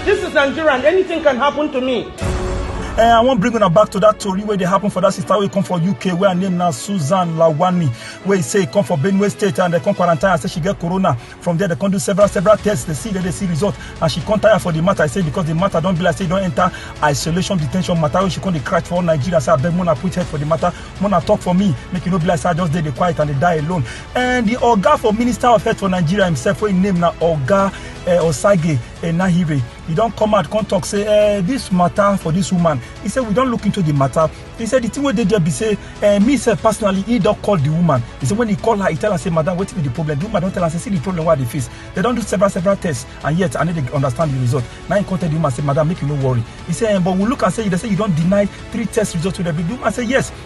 This is Nigeria and anything can happen to me. Uh, I wan bring una back to that tori wey dey happen for that sister wey come for UK wey her name na Susan Lawani wey e say e come for Benue State and dem come quarantine her say she get corona. From there dem come do several several tests dey see dey dey see result and she come tire for the matter say because the matter don be like say e don enter isolation detention matter wey she come dey cry for all Nigeria say abeg mona put head for the matter mona talk for me make e no be like say I just dey dey quiet and dey die alone. And the oga for Minister of Health for Nigeria himself wey im name na oga eh, osage enahire e don come out come talk say eh, this matter for this woman he say we don look into the matter he say the thing wey dey there be say eh, me sef personally he don call the woman he say when he call her he tell her say madam wetin be the problem the woman don tell am say see the problem wey i dey face they don do several several tests and yet i no dey understand the result na him come tell the woman say madam make you no worry he say eh, but we look am say you dey say you don deny three test results wey dem bring the woman say yes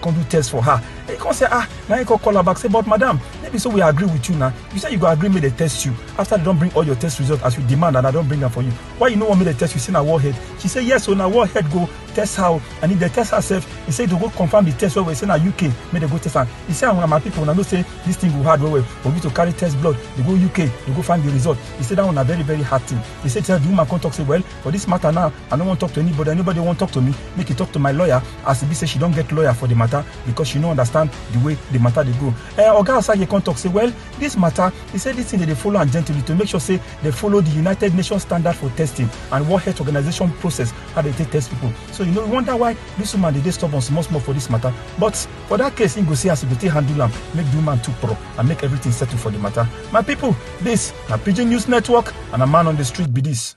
come do test for her he come say ah na him come call her back say but madam no be so we agree with you na you say you go agree make dem test you after they don bring all your test results as you demand and i don bring am for you why you no wan make dem test you say na warhead she say yes o na warhead go test her o and if dem test her sef he say to go confirm the test well well say na uk make dem go test am he say una my people una know say this thing go hard well well for you to carry test blood dey go uk dey go find the result he say that one na very very hard thing he say the woman come talk say well for this matter now i no wan talk to anybody anybody wan talk to me make e talk to my lawyer as e be say she don get lawyer for the matter because she no understand the way the matter dey go eh oga asage come talk say well this matter he say this thing dey dey follow am gently to make sure say they follow the united nations standard for testing and world health organization process how they take test people so you know you wonder why this woman dey dey stubborn small small for this matter but for that case him go see as e go take handle am make the woman too pro and make everything settle for the matter my people this na pidgin news network and na man on the street be this.